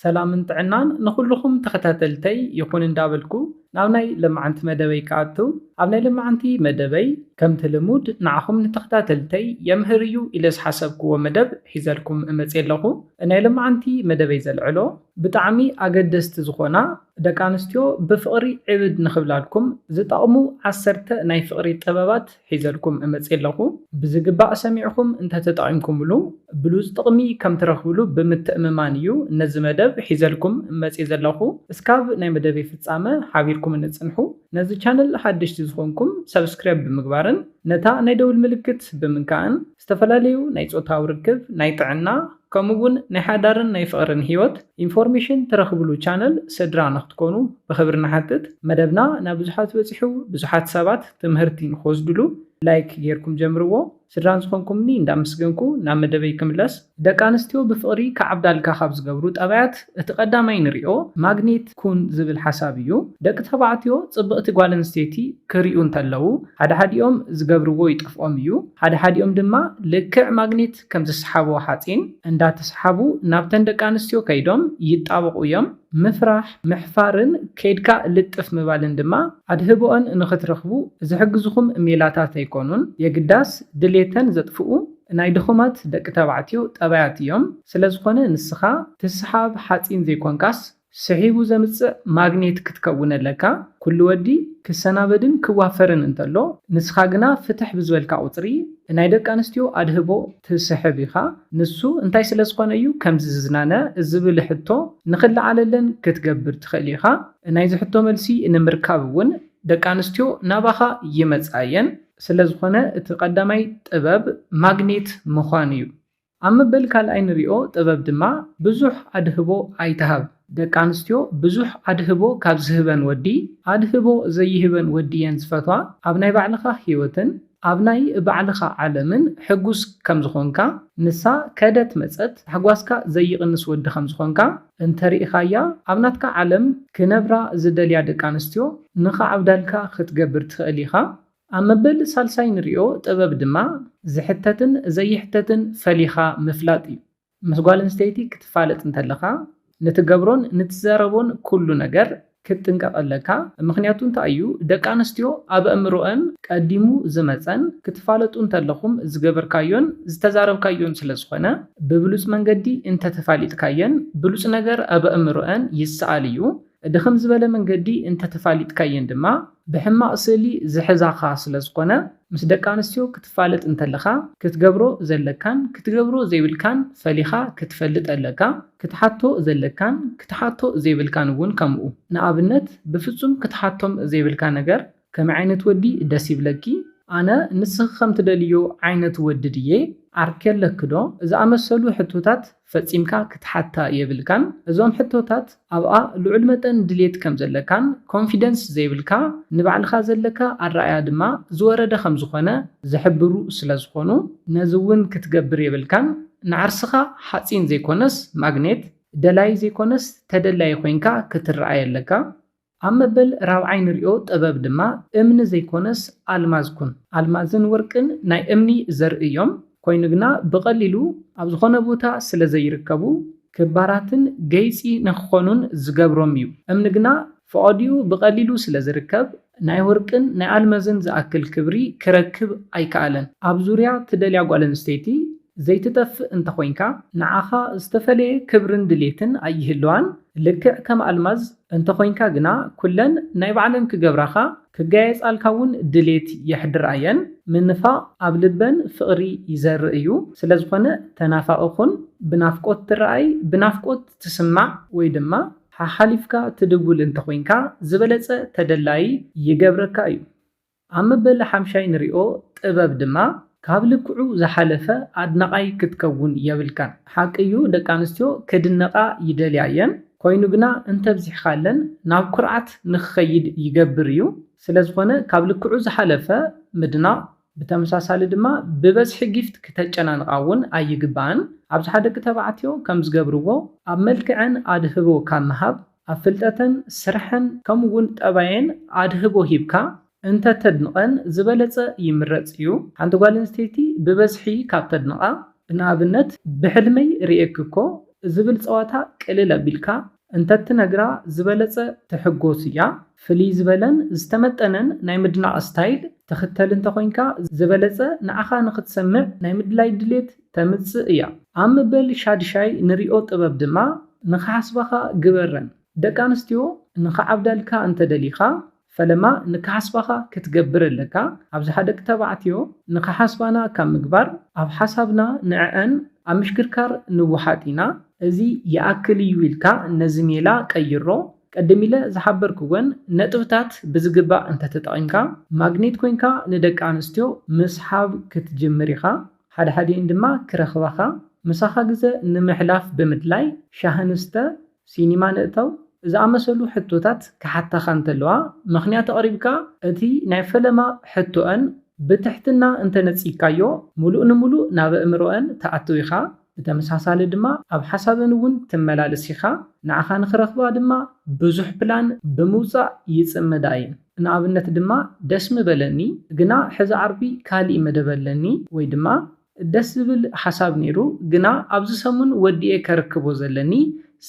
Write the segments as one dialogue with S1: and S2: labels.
S1: ሰላምን ጥዕናን ንኹሉኹም ተኸታተልተይ ይኹን እንዳበልኩ ናብ ናይ ለማዓንቲ መደበይ ክኣቱ ኣብ ናይ ለማዓንቲ መደበይ ከምቲ ልሙድ ንዓኹም ንተኸታተልተይ የምህር እዩ ኢለ ዝሓሰብክዎ መደብ ሒዘልኩም እመጽየ ኣለኹ ናይ ለማዓንቲ መደበይ ዘልዕሎ ብጣዕሚ ኣገደስቲ ዝኾና ደቂ ኣንስትዮ ብፍቕሪ ዕብድ ንኽብላልኩም ዝጠቕሙ ዓሰርተ ናይ ፍቕሪ ጥበባት ሒዘልኩም እመጽእ ኣለኹ። ብዝግባእ ሰሚዕኹም እንተተጠቒምኩምሉ ብሉጽ ጥቕሚ ከም ትረኽብሉ ብምትእምማን እዩ ነዚ መደብ ሒዘልኩም መጽየ ዘለኹ። እስካብ ናይ መደበይ ፍጻመ ሓቢርኩምኒ ጽንሑ። ነዚ ቻነል ሓደሽቲ ዝኾንኩም ሰብስክራይብ ብምግባርን ነታ ናይ ደውል ምልክት ብምንካእን ዝተፈላለዩ ናይ ጾታዊ ርክብ፣ ናይ ጥዕና፣ ከምኡ'ውን ናይ ሓዳርን ናይ ፍቕርን ህይወት ኢንፎርሜሽን ትረኽብሉ ቻነል ስድራ ንኽትኮኑ ብኽብሪ ንሓትት። መደብና ናብ ብዙሓት በጺሑ ብዙሓት ሰባት ትምህርቲ ንኽወስድሉ ላይክ ጌርኩም ጀምርዎ። ስድራ ንዝኾንኩምኒ እንዳመስገንኩ ናብ መደበይ ክምለስ። ደቂ ኣንስትዮ ብፍቕሪ ክዓብዳልካ ካብ ዝገብሩ ጠባያት እቲ ቀዳማይ ንሪኦ ማግኔት ኩን ዝብል ሓሳብ እዩ። ደቂ ተባዕትዮ ፅብቕቲ ጓል ኣንስተይቲ ክሪኡ እንተለዉ ሓደ ሓዲኦም ዝገብርዎ ይጠፍኦም እዩ። ሓደ ሓዲኦም ድማ ልክዕ ማግኔት ከም ዝሰሓቦ ሓፂን እንዳተሰሓቡ ናብተን ደቂ ኣንስትዮ ከይዶም ይጣበቑ እዮም። ምፍራሕ፣ ምሕፋርን ከይድካ ልጥፍ ምባልን ድማ ኣድህቦኣን ንኽትረኽቡ ዝሕግዙኹም ሜላታት ኣይኮኑን። የግዳስ ድሌተን ዘጥፍኡ ናይ ድኹማት ደቂ ተባዕትዮ ጠባያት እዮም ስለዝኾነ ንስኻ ትስሓብ ሓጺን ዘይኮንካስ ስሒቡ ዘምጽእ ማግኔት ክትከውን ኣለካ ኩሉ ወዲ ክሰናበድን ክዋፈርን እንተሎ ንስኻ ግና ፍትሕ ብዝበልካ ቁጽሪ ናይ ደቂ ኣንስትዮ ኣድህቦ ትስሕብ ኢኻ ንሱ እንታይ ስለዝኾነ እዩ ከምዚ ዝዝናነ ዝብል ሕቶ ንኽለዓለለን ክትገብር ትኽእል ኢኻ ናይዚ ሕቶ መልሲ ንምርካብ እውን ደቂ ኣንስትዮ ናባኻ ይመጻ እየን። ስለ ዝኾነ እቲ ቀዳማይ ጥበብ ማግኔት ምዃን እዩ። ኣብ መበል ካልኣይ ንሪኦ ጥበብ ድማ ብዙሕ ኣድህቦ ኣይትሃብ። ደቂ ኣንስትዮ ብዙሕ ኣድህቦ ካብ ዝህበን ወዲ ኣድህቦ ዘይህበን ወዲ እየን ዝፈትዋ። ኣብ ናይ ባዕልኻ ህይወትን ኣብ ናይ ባዕልኻ ዓለምን ሕጉስ ከም ዝኾንካ፣ ንሳ ከደት መጸት ታሕጓስካ ዘይቕንስ ወዲ ከም ዝኾንካ፣ እንተሪኢኻያ ኣብ ናትካ ዓለም ክነብራ ዝደልያ ደቂ ኣንስትዮ ንኽዓብዳልካ ክትገብር ትኽእል ኢኻ። ኣብ መበል ሳልሳይ ንሪኦ ጥበብ ድማ ዝሕተትን ዘይሕተትን ፈሊኻ ምፍላጥ እዩ። ምስ ጓል ኣንስተይቲ ክትፋለጥ እንተለኻ ንትገብሮን ንትዛረቦን ኩሉ ነገር ክትጥንቀቅ ኣለካ ምክንያቱ እንታይ እዩ ደቂ ኣንስትዮ ኣብ ኣእምሮኣን ቀዲሙ ዝመጸን ክትፋለጡ እንተለኩም ዝገበርካዮን ዝተዛረብካዮን ስለ ዝኮነ ብብሉጽ መንገዲ እንተ ተፋሊጥካየን ብሉጽ ነገር ኣብ ኣእምሮኣን ይሰኣል እዩ ድክም ዝበለ መንገዲ እንተ ተፋሊጥካየን ድማ ብሕማቅ ስእሊ ዝሕዛካ ስለ ዝኮነ ምስ ደቂ ኣንስትዮ ክትፋለጥ እንተለኻ ክትገብሮ ዘለካን ክትገብሮ ዘይብልካን ፈሊኻ ክትፈልጥ ኣለካ፣ ክትሓቶ ዘለካን ክትሓቶ ዘይብልካን እውን ከምኡ። ንኣብነት ብፍጹም ክትሓቶም ዘይብልካ ነገር ከመይ ዓይነት ወዲ ደስ ይብለኪ? ኣነ ንስኺ ከምትደልይዮ ዓይነት ወዲ ድየ? ዓርኪ ኣለኪ ዶ? ዝኣመሰሉ ሕቶታት ፈጺምካ ክትሓታ የብልካን እዞም ሕቶታት ኣብኣ ልዑል መጠን ድሌት ከም ዘለካን ኮንፊደንስ ዘይብልካ ንባዕልኻ ዘለካ ኣረኣያ ድማ ዝወረደ ከም ዝኾነ ዝሕብሩ ስለ ዝኾኑ ነዚ ውን ክትገብር የብልካን ንዓርስኻ ሓጺን ዘይኮነስ ማግኔት ደላይ ዘይኮነስ ተደላዪ ኮይንካ ክትረኣይ ኣለካ ኣብ መበል ራብዓይ ንሪኦ ጥበብ ድማ እምኒ ዘይኮነስ ኣልማዝ ኩን። ኣልማዝን ወርቅን ናይ እምኒ ዘርኢ እዮም፣ ኮይኑ ግና ብቐሊሉ ኣብ ዝኾነ ቦታ ስለ ዘይርከቡ ክባራትን ገይፂ ንክኾኑን ዝገብሮም እዩ። እምኒ ግና ፈቐድኡ ብቐሊሉ ስለ ዝርከብ ናይ ወርቅን ናይ ኣልመዝን ዝኣክል ክብሪ ክረክብ ኣይከኣለን። ኣብ ዙርያ ትደልያ ጓል ኣንስተይቲ ዘይትጠፍእ እንተኾይንካ ንዓኻ ዝተፈለየ ክብርን ድሌትን ኣይህልዋን፣ ልክዕ ከም ኣልማዝ፣ እንተኾይንካ ግና ኩለን ናይ ባዕለን ክገብራኻ ክጋየጻልካ ውን ድሌት የሕድራ እየን። ምንፋቕ ኣብ ልበን ፍቕሪ ይዘርእ እዩ። ስለዝኾነ ተናፋቒ ኩን፣ ብናፍቆት ትረኣይ፣ ብናፍቆት ትስማዕ ወይ ድማ ሓሓሊፍካ ትድውል እንተኾይንካ ዝበለጸ ተደላዪ ይገብረካ እዩ። ኣብ መበል ሓምሻይ ንሪኦ ጥበብ ድማ ካብ ልክዑ ዝሓለፈ ኣድናቓይ ክትከውን የብልካን ሓቂ እዩ ደቂ ኣንስትዮ ክድነቓ ይደልያ እየን ኮይኑ ግና እንተብዚሕኻለን ናብ ኩርዓት ንክኸይድ ይገብር እዩ ስለዝኾነ ካብ ልክዑ ዝሓለፈ ምድናቕ ብተመሳሳሊ ድማ ብበዝሒ ጊፍት ክተጨናንቓ እውን ኣይግባእን ኣብዝሓ ደቂ ተባዕትዮ ከምዝገብርዎ ኣብ መልክዐን ኣድህቦ ካብ ምሃብ ኣብ ፍልጠተን ስርሐን ከምኡ እውን ጠባየን ኣድህቦ ሂብካ እንተተድንቐን ዝበለፀ ይምረፅ እዩ። ሓንቲ ጓል ኣንስተይቲ ብበዝሒ ካብ ተድንቓ ንኣብነት ብሕልመይ ሪኤኪ እኮ ዝብል ፀዋታ ቅልል ኣቢልካ እንተትነግራ ዝበለፀ ትሕጎስ እያ። ፍልይ ዝበለን ዝተመጠነን ናይ ምድናቕ ስታይል ትኽተል እንተኾይንካ ዝበለፀ ንዓኻ ንኽትሰምዕ ናይ ምድላይ ድሌት ተምጽእ እያ። ኣብ ምበል ሻድሻይ ንሪኦ ጥበብ ድማ ንክሓስባኻ ግበረን። ደቂ ኣንስትዮ ንክዓብዳልካ እንተ ደሊኻ ፈለማ ንክሓስባኻ ክትገብር ኣለካ፣ ኣብዝሓ ደቂ ተባዕትዮ ንክሓስባና ካብ ምግባር ኣብ ሓሳብና ንዐዐን ኣብ ምሽክርካር ንወሓጥ ኢና። እዚ ይኣክል እዩ ኢልካ ነዚ ሜላ ቀይሮ። ቀድም ኢለ ዝሓበርክወን ነጥብታት ብዝግባእ እንተ ተጠቒምካ ማግኔት ኮይንካ ንደቂ ኣንስትዮ ምስሓብ ክትጅምር ኢኻ። ሓድሓዲኤን ድማ ክረኽባኻ፣ ምሳኻ ግዘ ንምሕላፍ ብምድላይ ሻሂ ንስተ፣ ሲኒማ ንእተው ዝኣመሰሉ ሕቶታት ክሓታኻ እንተለዋ፣ ምኽንያት ኣቕሪብካ እቲ ናይ ፈለማ ሕቶኣን ብትሕትና እንተነጺግካዮ፣ ምሉእ ንምሉእ ናብ ኣእምሮኣን ትኣቱ ኢኻ፣ ብተመሳሳሊ ድማ ኣብ ሓሳበን እውን ትመላለስ ኢኻ፣ ንዓኻ ንኽረኽባ ድማ ብዙሕ ፕላን ብምውጻእ ይጽመዳ እየን። ንኣብነት ድማ ደስ ምበለኒ ግና ሕዚ ዓርቢ ካሊእ መደብ ኣለኒ ወይ ድማ ደስ ዝብል ሓሳብ ነይሩ ግና ኣብዚ ሰሙን ወዲኤ ከርክቦ ዘለኒ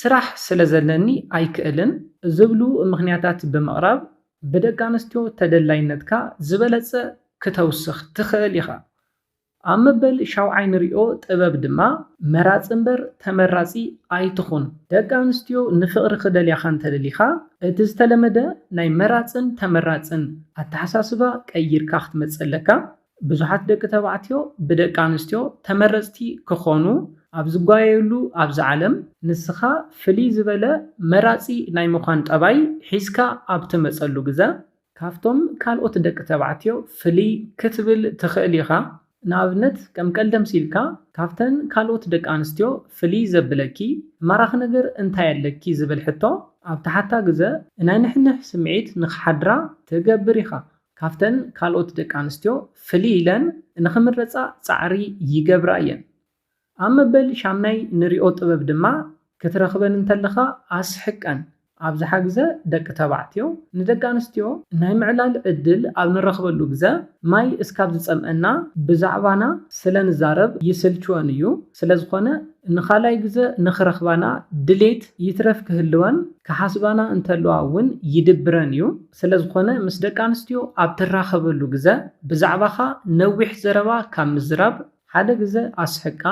S1: ስራሕ ስለዘለኒ ኣይክእልን ዝብሉ ምኽንያታት ብምቕራብ ብደቂ ኣንስትዮ ተደላይነትካ ዝበለፀ ክተውስኽ ትኽእል ኢኻ። ኣብ መበል ሻውዓይ ንሪኦ ጥበብ ድማ መራፂ እምበር ተመራፂ ኣይትኹን። ደቂ ኣንስትዮ ንፍቕሪ ክደልያኻ እንተደሊኻ እቲ ዝተለመደ ናይ መራፅን ተመራፅን ኣተሓሳስባ ቀይርካ ክትመፅእ ኣለካ። ብዙሓት ደቂ ተባዕትዮ ብደቂ ኣንስትዮ ተመረፅቲ ክኾኑ ኣብ ዝጓየዩሉ ኣብዚ ዓለም ንስኻ ፍልይ ዝበለ መራፂ ናይ ምዃን ጠባይ ሒዝካ ኣብ ትመፀሉ ግዘ ካብቶም ካልኦት ደቂ ተባዕትዮ ፍልይ ክትብል ትኽእል ኢኻ። ንኣብነት ከም ቀልዲ ኣምሲልካ ካብተን ካልኦት ደቂ ኣንስትዮ ፍልይ ዘብለኪ ማራኺ ነገር እንታይ ኣለኪ ዝብል ሕቶ ኣብ ትሓታ ግዘ ናይ ንሕንሕ ስምዒት ንኽሓድራ ትገብር ኢኻ። ካብተን ካልኦት ደቂ ኣንስትዮ ፍልይ ኢለን ንኽምረፃ ፃዕሪ ይገብራ እየን። ኣብ መበል ሻምናይ ንሪኦ ጥበብ ድማ ክትረኽበን እንተለኻ ኣስሕቀን ኣብዝሓ ግዘ ደቂ ተባዕትዮ ንደቂ ኣንስትዮ ናይ ምዕላል ዕድል ኣብ ንረኽበሉ ግዘ ማይ እስካብ ዝፀምኣና ብዛዕባና ስለ ንዛረብ ይስልችወን እዩ ስለዝኾነ ንኻልኣይ ግዘ ንኽረኽባና ድሌት ይትረፍ ክህልወን ክሓስባና እንተለዋ እውን ይድብረን እዩ ስለዝኾነ ምስ ደቂ ኣንስትዮ ኣብ ትራኸበሉ ግዘ ብዛዕባኻ ነዊሕ ዘረባ ካብ ምዝራብ ሓደ ግዘ ኣስሕቃ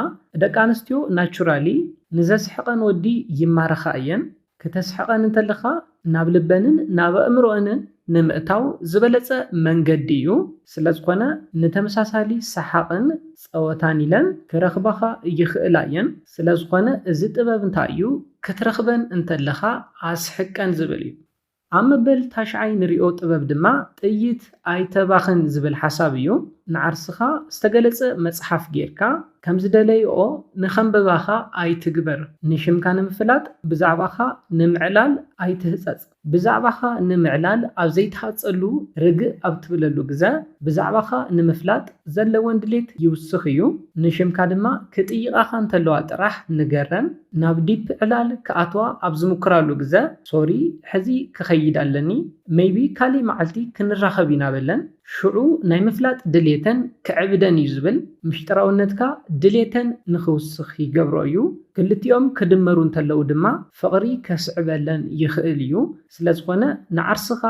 S1: ደቂ ኣንስትዮ ናቹራሊ ንዘስሕቀን ወዲ ይማረኻ እየን ክተስሕቀን እንተለኻ ናብ ልበንን ናብ ኣእምሮኣንን ንምእታው ዝበለፀ መንገዲ እዩ ስለዝኾነ ንተመሳሳሊ ሰሓቅን ፀወታን ኢለን ክረኽባኻ ይኽእላ እየን ስለዝኾነ እዚ ጥበብ እንታይ እዩ ክትረኽበን እንተለኻ ኣስሕቀን ዝብል እዩ ኣብ መበል ታሽዓይ ንሪኦ ጥበብ ድማ ጥይት ኣይተባኽን ዝብል ሓሳብ እዩ። ንዓርስኻ ዝተገለጸ መጽሓፍ ጌርካ፣ ከም ዝደለይኦ ንኸንብባኻ ኣይትግበር። ንሽምካ ንምፍላጥ፣ ብዛዕባኻ ንምዕላል ኣይትህጸጽ። ብዛዕባኻ ንምዕላል ኣብ ዘይትሃጸሉ፣ ርግእ ኣብ ትብለሉ ግዘ፣ ብዛዕባኻ ንምፍላጥ ዘለወን ድሌት ይውስኽ እዩ። ንሽምካ ድማ ክጥይቓኻ እንተለዋ ጥራሕ ንገረን። ናብ ዲፕ ዕላል ክኣትዋ ኣብ ዝሙክራሉ ግዘ ሶሪ ሕዚ ክኸይድ ኣለኒ መይቢ ካሊእ መዓልቲ ክንራኸብ ኢና በለን። ሽዑ ናይ ምፍላጥ ድልየተን ክዕብደን እዩ ዝብል። ምሽጥራውነትካ ድልየተን ንኽውስኽ ይገብሮ እዩ። ክልቲኦም ክድመሩ እንተለዉ ድማ ፍቕሪ ከስዕበለን ይኽእል እዩ። ስለዝኾነ ንዓርስኻ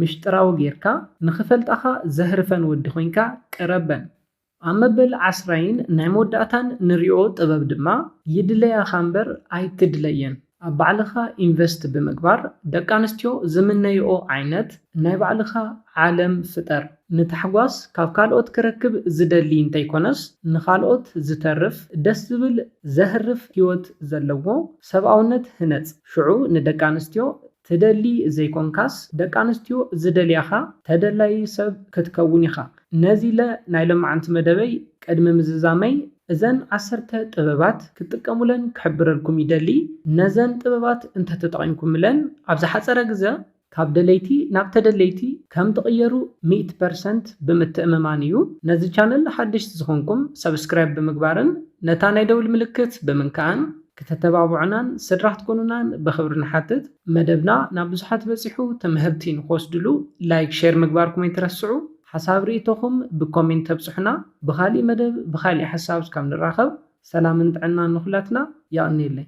S1: ምሽጥራዊ ገይርካ ንኽፈልጣኻ ዘህርፈን ወዲ ኮይንካ ቅረበን። ኣብ መበል ዓስራይን ናይ መወዳእታን ንሪኦ ጥበብ ድማ ይድለያኻ እምበር ኣይትድለየን ኣብ ባዕልኻ ኢንቨስት ብምግባር ደቂ ኣንስትዮ ዝምነይኦ ዓይነት ናይ ባዕልኻ ዓለም ፍጠር። ንታሕጓስ ካብ ካልኦት ክረክብ ዝደሊ እንተይኮነስ ንኻልኦት ዝተርፍ ደስ ዝብል ዘህርፍ ሂወት ዘለዎ ሰብኣውነት ህነፅ ሽዑ ንደቂ ኣንስትዮ ትደሊ ዘይኮንካስ ደቂ ኣንስትዮ ዝደልያኻ ተደላዪ ሰብ ክትከውን ኢኻ። ነዚለ ናይ ሎማዕንቲ መደበይ ቅድሚ ምዝዛመይ እዘን ዓሰርተ ጥበባት ክትጥቀሙለን ክሕብረልኩም ይደሊ። ነዘን ጥበባት እንተተጠቒምኩምለን ኣብ ዝሓጸረ ግዘ ካብ ደለይቲ ናብ ተደለይቲ ከም ትቕየሩ ሚእቲ ፐርሰንት ብምትእምማን እዩ። ነዚ ቻነል ሓደሽቲ ዝኾንኩም ሰብስክራይብ ብምግባርን ነታ ናይ ደውል ምልክት ብምንካእን ክተተባብዑናን ስድራ ክትኮኑናን ብክብሪ ንሓትት። መደብና ናብ ብዙሓት በጺሑ ትምህርቲ ንክወስድሉ ላይክ ሼር ምግባርኩም ኣይትረስዑ። ሓሳብ ርኢቶኹም ብኮሜንት ተብጽሑና። ብኻሊእ መደብ ብኻሊእ ሓሳብ እስካብ ንራኸብ ሰላምን ጥዕናን ንኹላትና። የቕንየለይ።